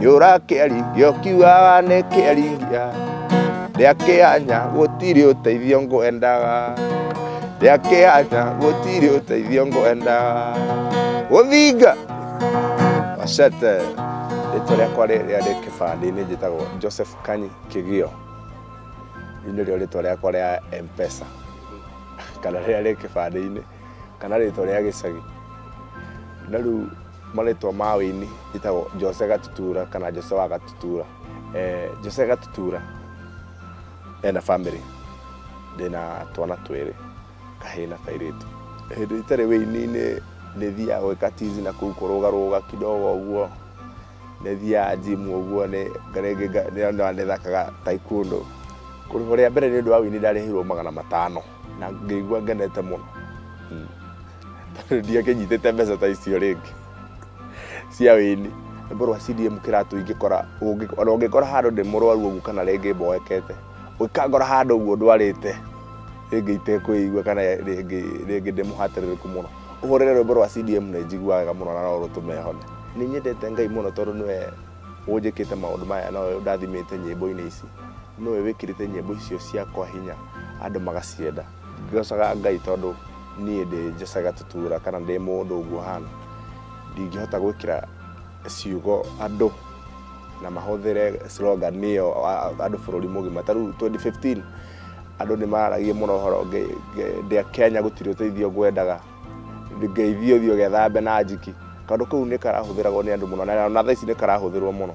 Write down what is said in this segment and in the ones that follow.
yura kiaringia ukiugaga ni kiaringia ria kianya gutiri uteithio ngwendaga ria kianya gutiri uteithio ngwendaga guthinga wacete rĩtwa rĩakwa rĩrĩa rĩ kĩbandĩ-inĩ njĩtagwo joseph kanyi kĩgio rĩu nĩrĩo rĩtwa rĩakwa rĩa mpesa kana rĩrĩa rĩ kĩbandĩ-inĩ kana rĩtwa rĩa gĩcagi na rĩu marĩtwa ma wĩini njĩtagwo Jose Gatutura kana Jose wa Gatutura. Eh, Jose Gatutura ena family ndĩna twana twĩrĩ kahĩĩ na kairĩtu. Hĩndĩ itarĩ wĩini-inĩ nĩ thiaga gwĩka tizi na kũu kũrũgarũga kidogo ũguo nĩ thiaga gym ũguo nĩ rĩngĩ nga- nĩ- nĩ- nĩthakaga taekwondo. Kũrĩhwo rĩa mbere nĩ ũndũ wa wĩini ndarĩhirwo magana matano. na ngĩigua ngenete mũno Mm. tondũ ndiakĩnyitĩte mbeca ta icio rĩngĩ cia wĩni ngorwa CDM kĩratũ ingĩkora ũngĩ- ona ũngĩkora handũ ndĩ mũrwaru ũguo kana rĩngĩ mboekete ũngĩkangora handũ ũguo ndwarĩte rĩngĩ itekwĩigua kana rĩngĩ rĩngĩ ndĩ mũhatĩrĩrĩku mũno ũhũrĩre rwĩmbo rwa CDM nĩ njiguaga wega mũno na no rũtũme hone nĩ nyendete Ngai mũno tondũ nĩwe ũnjĩkĩte maũndũ maya na ũyũ ndathimĩte nyĩmbo-inĩ ici Nĩwe wĩkĩrĩte nyĩmbo icio ciakwa hinya andũ magacienda. Ngocaga Ngai tondũ niĩ ndĩ njocaga tũtura kana ndĩ mũndũ ũguo hana. Ndingĩhota gwĩkĩra ciugo andũ na mahũthĩre slogan ĩyo andũ bũrũri mũgima. Ta rĩu 2015 andũ nĩ maragia mũno ũhoro ndĩa Kenya gũtirĩ ũteithio ngwendaga, ngeithio thiĩ ũgethambe na njiki. Kaũndũ kau nĩ karahũthĩragwo nĩ andũ mũno na ona thaa ici nĩ karahũthĩrwo mũno.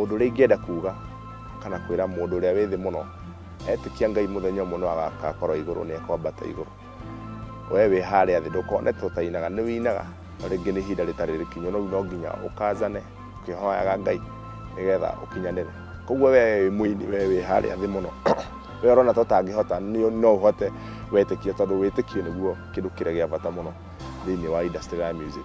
Ũndũ ũrĩa ingĩenda kuuga kana kwĩra mũndũ ũrĩa wĩ thĩ mũno, etĩkia Ngai mũthenya ũmwe nĩ agakorwo igũrũ nĩ ekwambata igũrũ. Wee wĩ harĩa thĩ ndũkonete ũtainaga, nĩ wĩinaga na rĩngĩ nĩ ihinda rĩtarĩ rĩkinyu, rĩu no nginya ũkanjane ũkĩhoyaga Ngai nĩgetha ũkinyanĩre. Koguo wee wĩ mũini, wee wĩ harĩa thĩ mũno, wee ũrona ta ũtangĩhota, no ũhote wetĩkia tondũ wĩtĩkio nĩguo kĩndũ kĩrĩa gĩa bata mũno. thĩinĩ wa industry ya music.